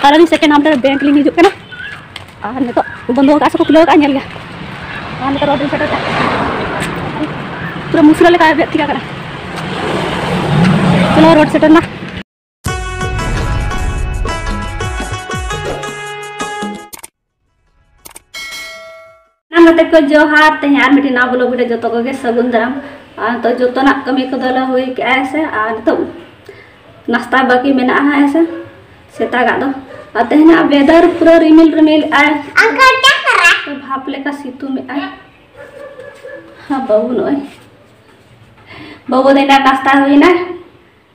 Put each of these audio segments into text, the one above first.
ᱟᱨ ᱟᱹᱞᱤᱧ second half ᱨᱮ bank ᱞᱤᱧ ᱦᱤᱡᱩᱜ ᱠᱟᱱᱟ ᱟᱨ ᱱᱤᱛᱚᱜ ᱵᱚᱱᱫᱚ ᱟᱠᱟᱫ ᱥᱮᱠᱚ ᱠᱷᱩᱞᱟᱹᱣ ᱟᱠᱟᱫ ᱧᱮᱞ ᱜᱮ ᱟᱨ ᱱᱤᱛᱚᱜ ᱨᱚᱰ ᱞᱤᱧ ᱥᱮᱴᱮᱨ ᱠᱟᱜ ᱯᱩᱨᱟᱹ ᱢᱩᱥᱨᱟᱹ ᱞᱮᱠᱟ ᱵᱮᱫ ᱴᱷᱤᱠᱟ ᱠᱟᱱᱟ ᱪᱚᱞᱚ ᱨᱚᱰ ᱥᱮᱴᱮᱨ ᱱᱟ ᱱᱚᱛᱮ ᱠᱚ ᱡᱚᱦᱟᱨ ᱛᱮᱦᱮᱧ ᱟᱨ ᱢᱤᱫᱴᱤᱡ ᱱᱟᱣᱟ ᱵᱞᱚᱜ ᱨᱮ ᱡᱚᱛᱚ ᱠᱚᱜᱮ ᱥᱟᱹᱜᱩᱱ ᱫᱟᱨᱟᱢ ᱛᱚ ᱡᱚᱛᱚᱱᱟᱜ ᱠᱟᱹᱢᱤ ᱠᱚᱫᱚᱞᱮ ᱦᱩᱭ ᱠᱮᱜᱼᱟ ᱦᱮᱸ ᱥᱮ ᱟᱨ ᱱᱤᱛᱚᱜ ᱱᱟᱥᱛᱟ ᱵᱟᱹᱠᱤ ᱢᱮᱱᱟᱜᱼᱟ ᱦᱮᱸ ᱥᱮ ᱥᱮᱛᱟᱜᱟᱜ ᱫᱚ ᱟᱨ ᱛᱮᱦᱮᱧᱟᱜ ᱵᱮᱫᱟᱨ ᱯᱩᱨᱟᱹ ᱨᱤᱢᱤᱞ ᱨᱤᱢᱤᱞ ᱟᱭ ᱵᱷᱟᱯ ᱞᱮᱠᱟ ᱥᱤᱛᱩᱝ ᱮᱜᱼᱟᱭ ᱦᱮᱸ ᱵᱟᱹᱵᱩ ᱱᱚᱜᱼᱚᱭ ᱵᱟᱹᱵᱩ ᱫᱚ ᱮᱱᱟᱱ ᱱᱟᱥᱛᱟ ᱦᱩᱭᱱᱟ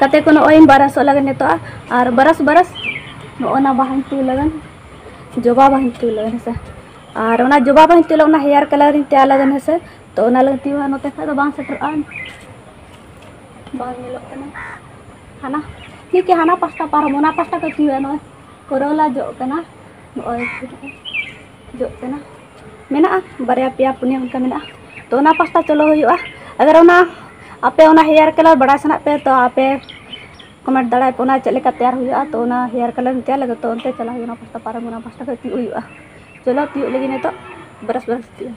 ᱠᱟᱛᱮ ᱠᱚ ᱱᱚᱜᱼᱚᱭ ᱵᱟᱨᱟᱥᱚᱜ ᱞᱟᱜᱟᱱ ᱱᱤᱛᱚᱜ ᱟᱨ ᱵᱟᱨᱟᱥ ᱵᱟᱨᱟᱥ ᱱᱚᱜᱼᱚ ᱱᱟ ᱵᱟᱦᱟᱧ ᱛᱩ ᱞᱟᱜᱟᱱ ᱡᱚᱵᱟ ᱵᱟᱦᱟᱧ ᱛᱩ ᱞᱟᱜᱟᱱ ᱦᱮᱸᱥᱮ ᱟᱨ ᱚᱱᱟ ᱡᱚᱵᱟ ᱵᱟᱦᱟᱧ ᱛᱩ ᱚᱱᱟ ᱦᱮᱭᱟᱨ ᱠᱟᱞᱟᱨᱤᱧ ᱛᱮᱭᱟᱨ ᱞᱟᱜᱟᱱ ᱦᱮᱸᱥᱮ ᱛᱚ ᱚᱱᱟ ᱞᱟᱹᱜᱤᱫ ᱛᱤᱣᱟ ᱱᱚᱛᱮ ᱠᱷᱟᱡ ᱫᱚ ᱵᱟᱝ ᱥᱮᱴᱮᱨᱚᱜᱼᱟ ᱵᱟᱝ ᱧᱮᱞᱚᱜ ᱠᱟᱱᱟ ᱦᱟᱱᱟ ᱴᱷᱤᱠ ᱜᱮ ᱦᱟᱱᱟ ᱯᱟᱥᱴᱟ ᱯᱟᱨᱚᱢ ᱚᱱᱟ ᱯᱟᱥᱴᱟ ᱠᱚ ᱛᱤᱣᱟ ᱱᱚᱜᱼᱚᱭ ᱠᱚᱨᱚᱞᱟ ᱡᱚᱜ ᱠᱟᱱᱟ ᱱᱚᱜᱼᱚᱭ ᱡᱚᱜ ᱠᱟᱱᱟ ᱢᱮᱱᱟᱜᱼᱟ ᱵᱟᱨᱭᱟ ᱯᱮᱭᱟ ᱯᱩᱱᱭᱟᱹ ᱚᱱᱠᱟ ᱢᱮᱱᱟᱜᱼᱟ ᱛᱚ ᱚᱱᱟ ᱯᱟᱥᱴᱟ ᱪᱚᱞᱚ ᱦᱩᱭᱩᱜᱼᱟ ᱟᱜᱟᱨ ᱚᱱᱟ ᱟᱯᱮ ᱚᱱᱟ ᱦᱮᱭᱟᱨ ᱠᱟᱞᱟᱨ ᱵᱟᱲᱟᱭ ᱥᱟᱱᱟᱭᱮᱫ ᱯᱮᱭᱟ ᱛᱚ ᱟᱯᱮ ᱠᱚᱢᱮᱱᱴ ᱫᱟᱲᱮ ᱟᱯᱮ ᱚᱱᱟ ᱪᱮᱫ ᱞᱮᱠᱟ ᱛᱮᱭᱟᱨ ᱦᱩᱭᱩᱜᱼᱟ ᱛᱚ ᱚᱱᱟ ᱦᱮᱭᱟᱨ ᱠᱟᱞᱟᱨ ᱤᱧ ᱛᱮᱭᱟᱨ ᱞᱟᱹᱜᱤᱫ ᱛᱚ ᱚᱱᱛᱮ ᱪᱟᱞᱟᱜ ᱦᱩᱭᱩᱜᱼᱟ ᱚᱱᱟ ᱯᱟᱥᱴᱟ ᱯᱟᱨᱚᱢ ᱚᱱᱟ ᱯᱟᱥᱴᱟ ᱠᱷᱚᱡ ᱛᱤᱭᱳᱜ ᱦᱩᱭᱩᱜᱼᱟ ᱪᱚᱞᱚ ᱛᱤᱭᱳᱜ ᱞᱟᱹᱜᱤᱫ ᱱᱤᱛᱚᱜ ᱵᱨᱟᱥ ᱵᱨᱟᱥ ᱛᱤᱭᱳᱜ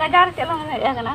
ᱠᱟᱡᱟᱨ ᱪᱮᱫ ᱞᱟᱝ ᱦᱮᱡ ᱟᱠᱟᱱᱟ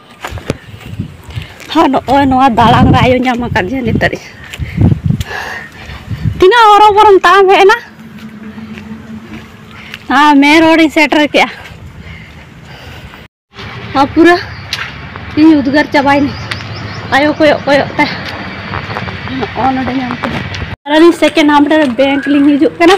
ᱦᱚᱸ ᱱᱚᱜᱼᱚᱭ ᱱᱚᱣᱟ ᱫᱟᱬᱟᱱ ᱨᱮ ᱟᱭᱳ ᱧᱟᱢ ᱟᱠᱟᱫᱤᱧᱟ ᱱᱤᱛᱚᱜ ᱛᱤᱱᱟᱹᱜ ᱦᱚᱨᱚᱵᱚᱨᱚᱢ ᱛᱟᱲᱟᱢ ᱦᱮᱡ ᱮᱱᱟ ᱦᱮᱸ ᱢᱮᱱ ᱨᱳᱰᱤᱧ ᱥᱮᱴᱮᱨ ᱠᱮᱜᱼᱟ ᱦᱚᱸ ᱯᱩᱨᱟᱹ ᱤᱧ ᱩᱫᱽᱜᱟᱹᱨ ᱪᱟᱵᱟᱭᱮᱱᱟ ᱟᱭᱳ ᱠᱚᱭᱚᱜ ᱠᱚᱭᱚᱜ ᱛᱮ ᱱᱚᱜᱼᱚ ᱱᱚᱰᱮ ᱧᱟᱢ ᱠᱮᱫᱟ ᱟᱹᱞᱤᱧ ᱥᱮᱠᱮᱱᱰ ᱦᱟᱯ ᱨᱮ ᱵᱮᱝᱠ ᱞᱤᱧ ᱦᱤᱡᱩᱜ ᱠᱟᱱᱟ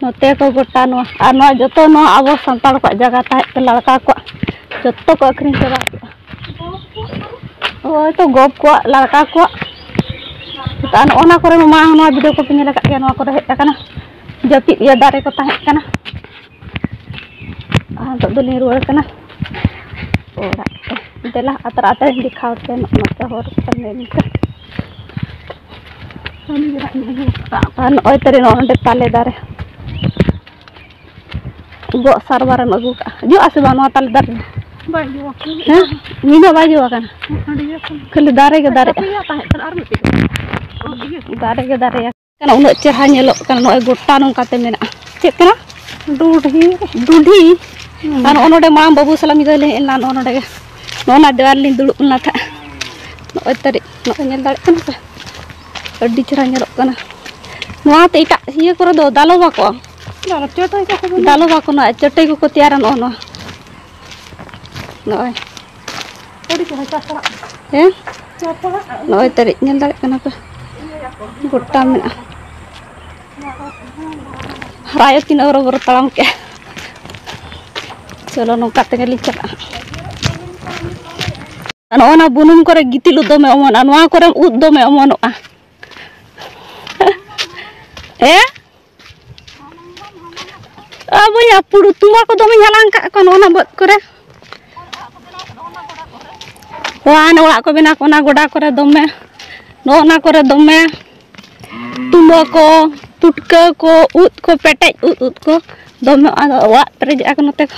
ᱱᱚᱛᱮ ᱠᱚ ᱜᱚᱴᱟ ᱱᱚᱣᱟ ᱟᱨ ᱱᱚᱣᱟ ᱡᱚᱛᱚ ᱱᱚᱣᱟ ᱟᱵᱚ ᱥᱟᱱᱛᱟᱲ ᱠᱚᱣᱟᱜ ᱡᱟᱭᱜᱟ ᱛᱟᱦᱮᱸᱫ ᱛᱮ ᱞᱟᱲᱠᱟ ᱠᱚᱣᱟᱜ ᱡᱚᱛᱚ ᱠᱚ ᱟᱹᱠᱷᱨᱤᱧ ᱪᱟᱵᱟ ᱠᱮᱫᱼᱟ ᱦᱳᱭ ᱛᱚ ᱜᱚᱯ ᱠᱚᱣᱟᱜ ᱞᱟᱲᱠᱟ ᱠᱚᱣᱟᱜ ᱟᱨ ᱱᱚᱜᱼᱚ ᱱᱚᱣᱟ ᱠᱚᱨᱮ ᱢᱟ ᱱᱚᱣᱟ ᱵᱷᱤᱰᱤᱭᱳ ᱠᱚᱯᱮ ᱧᱮᱞ ᱟᱠᱟᱫ ᱜᱮᱭᱟ ᱱᱚᱣᱟ ᱠᱚᱨᱮ ᱦᱮᱡ ᱟᱠᱟᱱᱟ ᱡᱟᱹᱯᱤᱫ ᱤᱭᱟᱹ ᱫᱟᱨᱮ ᱠᱚ ᱛᱟᱦᱮᱸ ᱠᱟᱱᱟ ᱟᱨ ᱱᱤᱛᱚᱜ ᱫᱚᱞᱤᱧ ᱨᱩᱣᱟᱹᱲ ᱠᱟᱱᱟ ᱚᱲᱟᱜ ᱛᱮ ᱫᱮᱞᱟ ᱟᱛᱨᱟ ᱟᱛᱨᱟᱧ ᱫᱮᱠᱷᱟᱣ ᱟᱯᱮᱭᱟ ᱱᱚᱛᱮ ᱦᱚᱨ ᱠᱚ ᱧᱮᱞ ᱯᱮ ᱟᱨ ᱱᱚᱜᱼᱚᱭ ᱛᱟᱞᱮ ᱱᱚᱜᱼᱚ ᱱᱚᱰᱮ ᱛᱟᱞᱮ ᱫᱟᱨᱮ ᱜᱚᱜ ᱥᱟᱨᱵᱟᱨᱮᱢ ᱟᱹᱜᱩ ᱠᱟᱜᱼᱟ ᱡᱚᱜᱼᱟ ᱥᱮ ᱵᱟᱝ ᱱᱚᱣᱟ ᱛᱟᱞᱮ ᱫᱟᱨᱮ ᱵᱟᱭ ᱡᱚ ᱟᱠᱟᱱᱟ ᱦᱮᱸ ᱧᱤᱫᱟᱹ ᱵᱟᱭ ᱡᱚ ᱟᱠᱟᱱᱟ ᱠᱷᱟᱹᱞᱤ ᱫᱟᱨᱮ ᱜᱮ ᱫᱟᱨᱮᱜᱼᱟ ᱫᱟᱨᱮ ᱜᱮ ᱫᱟᱨᱮᱜᱼᱟ ᱠᱟᱱᱟ ᱩᱱᱟᱹᱜ ᱪᱮᱦᱨᱟ ᱧᱮᱞᱚᱜ ᱠᱟᱱᱟ ᱱᱚᱜᱼᱚᱭ ᱜᱚᱴᱟ ᱱᱚᱝᱠᱟᱛᱮ ᱢᱮᱱᱟᱜᱼᱟ ᱪᱮᱫ ᱠᱟᱱᱟ ᱰᱩᱰᱷᱤ ᱰᱩᱰᱷᱤ ᱟᱨ ᱱᱚᱜᱼᱚ ᱱᱚᱰᱮ ᱢᱟᱲᱟᱝ ᱵᱟᱹᱵᱩ ᱥᱟᱞᱟᱜ ᱢᱤᱫ ᱫᱷᱟᱣ ᱞᱮ ᱦᱮᱡ ᱞᱮᱱᱟ ᱱᱚᱜᱼᱚ ᱱᱚᱰᱮ ᱱᱚᱜᱼᱚ ᱱᱟ ᱫᱮᱣᱟᱞ ᱞᱤᱧ ᱫᱩᱲᱩᱵ ᱞᱮᱱᱟ ᱛᱟᱦᱮᱸᱫ ᱱᱚᱜᱼᱚᱭ ᱛᱟᱹᱨᱤᱡ ᱱᱚᱜᱼᱚᱭ ᱧᱮᱞ ᱫᱟᱲᱮᱭᱟᱜ ᱠᱟᱱᱟ ᱯᱮ ᱟᱹᱰᱤ ᱪᱮᱦᱨᱟ ᱧᱮᱞᱚᱜ ᱠᱟᱱᱟ ᱱᱚᱣᱟᱛᱮ ᱮᱴᱟᱜ ᱤᱭᱟᱹ ᱠᱚᱨᱮ ᱫᱚ ᱫᱟᱞᱚᱵ ᱟᱠᱚ ᱫᱟᱞᱚᱵ ᱟᱠᱚ ᱱᱚᱣᱟ ᱪᱟᱹᱴᱟᱹᱭ ᱠᱚᱠᱚ ᱛᱮᱭᱟᱨᱟ ᱱᱚᱜᱼᱚ ᱱᱚᱣᱟ ᱱᱚᱜᱼᱚᱭ ᱟᱹᱰᱤ ᱪᱮᱦᱨᱟ ᱪᱟᱥ ᱚᱲᱟᱜ ᱦᱮᱸ ᱪᱟᱥ ᱚᱲᱟᱜ ᱱᱚᱜᱼᱚᱭ ᱛᱟᱹᱨᱤᱡ ᱧᱮᱞ ᱫᱟᱲᱮᱭᱟᱜ ᱠᱟᱱᱟ ᱯᱮ ᱜᱚᱴᱟ ᱢᱮᱱᱟᱜᱼᱟ ᱦᱟᱨᱟᱭᱟ ᱛᱤᱱᱟᱹᱜ ᱦᱚᱨᱚ ᱵᱚᱨᱚ ᱛᱟᱲᱟᱢ ᱠᱮᱜᱼᱟ ᱪᱚᱞᱚ ᱱᱚᱝᱠᱟ ᱛᱮᱜᱮᱞᱤᱧ ᱪᱟᱞᱟᱜᱼᱟ ᱱᱚᱜᱼᱚ ᱱᱟ ᱵᱩᱱᱩᱢ ᱠᱚᱨᱮ ᱜᱤᱛᱤᱞ ᱩᱫ ᱫᱚᱢᱮ ᱚᱢᱚᱱᱚᱜᱼᱟ ᱱᱚᱣᱟ ᱠᱚᱨᱮ ᱩᱫ ᱫᱚᱢᱮ ᱚᱢᱚᱱᱚᱜᱼᱟ ᱦᱮᱸ ᱵᱚᱭᱦᱟ ᱯᱩᱲᱩ ᱛᱩᱢᱵᱟ ᱠᱚ ᱫᱚᱢᱮᱧ ᱦᱟᱞᱟᱝ ᱠᱟᱜ ᱠᱚᱣᱟ ᱱᱚᱜᱼᱚ ᱱᱟ ᱵᱟᱹᱫᱽ ᱠᱚᱨᱮ ᱚᱱᱟ ᱚᱲᱟᱜ ᱠᱚ ᱵᱮᱱᱟᱣ ᱚᱱᱟ ᱜᱚᱰᱟ ᱠᱚᱨᱮ ᱫᱚᱢᱮ ᱱᱚᱜᱼᱚ ᱱᱟ ᱠᱚᱨᱮ ᱫᱚᱢᱮ ᱛᱩᱢᱵᱟ ᱠᱚ ᱯᱩᱴᱠᱟᱹ ᱠᱚ ᱩᱫ ᱠᱚ ᱯᱮᱴᱮᱡ ᱩᱫ ᱩᱫ ᱠᱚ ᱫᱚᱢᱮ ᱟᱫᱚ ᱚᱲᱟᱜ ᱯᱮᱨᱮᱡ ᱟᱠᱟᱱᱟ ᱱᱚᱛᱮ ᱠᱚ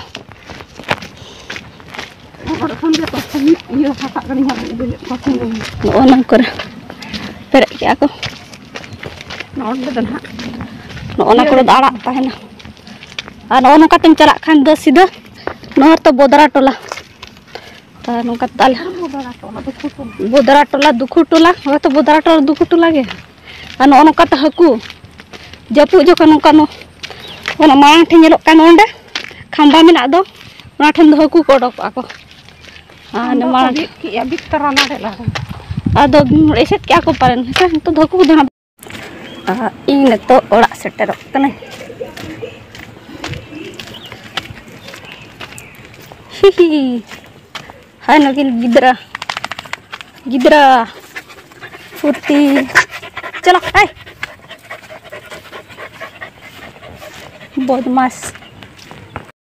ᱱᱚᱜᱼᱚ ᱱᱟ ᱠᱚᱨᱮ ᱯᱮᱨᱮᱡ ᱠᱮᱜᱼᱟ ᱠᱚ ᱱᱚᱸᱰᱮ ᱫᱚ ᱱᱟᱦᱟᱜ ᱱᱚᱜᱼᱚ ᱱᱟ ᱠᱚᱨᱮ ᱫᱚ ᱟᱲᱟᱜ ᱛᱟᱦᱮᱱᱟ ᱟᱨ ᱱᱚᱜᱼᱚ ᱱᱚᱝᱠᱟ ᱛᱮᱢ ᱪᱟᱞᱟᱜ ᱠᱷᱟᱱ ᱫᱚ ᱥᱤᱫᱷᱟᱹ ᱱᱚᱣᱟ ᱨᱮᱛᱚ ᱵᱚᱫᱨᱟ ᱴᱚᱞᱟ ᱟᱨ ᱱᱚᱝᱠᱟ ᱛᱟᱞ ᱵᱚᱫᱨᱟ ᱴᱚᱞᱟ ᱫᱩᱠᱷᱩ ᱴᱚᱞᱟ ᱱᱚᱣᱟ ᱛᱚ ᱵᱚᱫᱨᱟ ᱴᱚᱞᱟ ᱫᱩᱠᱷᱩ ᱴᱚᱞᱟ ᱜᱮ ᱟᱨ ᱱᱚᱜᱼᱚ ᱱᱚᱝᱠᱟ ᱛᱮ ᱦᱟᱹᱠᱩ ᱡᱟᱹᱯᱩᱫ ᱡᱚᱠᱷᱚᱱ ᱱᱚᱝᱠᱟ ᱚᱱᱟ ᱢᱟᱲᱟᱝ ᱴᱷᱮᱱ ᱧᱮᱞᱚᱜ ᱠᱟᱱ ᱚᱸᱰᱮ ᱠᱷᱟᱢᱵᱟ ᱢᱮᱱᱟᱜ ᱫᱚ ᱚᱱᱟ ᱴᱷᱮᱱ ᱫᱚ ᱦᱟᱹᱠᱩ ᱠᱚ ᱚᱰᱚᱠᱚᱜᱼᱟ ᱠᱚ ᱟᱫᱚ ᱮᱥᱮᱫ ᱠᱮᱜᱼᱟ ᱠᱚ ᱯᱟᱞᱮᱱ ᱦᱮᱸᱥᱮ ᱱᱤᱛᱚᱜ ᱫᱚ ᱦᱟᱹᱠᱩ ᱠᱚᱫᱚ ᱦᱟᱸᱜ ᱤᱧ ᱱᱤᱛᱚᱜ ᱚᱲᱟᱜ ᱥᱮᱴᱮᱨᱚᱜ ᱠᱟᱹᱱᱟᱹᱧ ᱦᱤᱦᱤ ᱦᱟᱭ ᱱᱩᱠᱤᱱ ᱜᱤᱫᱽᱨᱟᱹ ᱜᱤᱫᱽᱨᱟᱹ ᱯᱩᱛᱤ ᱪᱚᱞᱚ ᱦᱟᱭ ᱵᱚᱫᱢᱟᱥ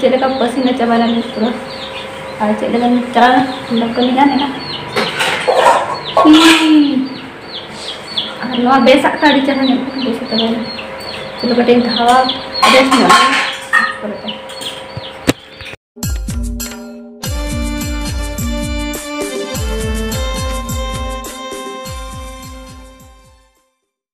ᱪᱮᱫ ᱞᱮᱠᱟ ᱯᱟᱹᱥᱤᱱᱟ ᱪᱟᱵᱟᱭ ᱱᱟᱞᱤᱧ ᱯᱩᱨᱟᱹ ᱟᱨ ᱪᱮᱫ ᱞᱮᱠᱟ ᱪᱟᱞᱟᱣ ᱱᱟ ᱠᱟᱹᱢᱤ ᱜᱟᱱ ᱮᱱᱟ ᱟᱨ ᱱᱚᱣᱟ ᱵᱮᱥᱟᱜ ᱛᱮ ᱟᱹᱰᱤ ᱪᱮᱦᱨᱟ ᱧᱮᱞᱚᱜ ᱠᱟᱱᱟ ᱵᱮᱥ ᱪᱟᱵᱟᱭ ᱱᱟ ᱪᱚᱞᱚ ᱠᱟᱹᱴᱤᱡ ᱤᱧ ᱫᱷᱟᱣᱟ ᱵᱮᱥ ᱧᱚᱜ ᱯᱚᱨᱮᱛᱮ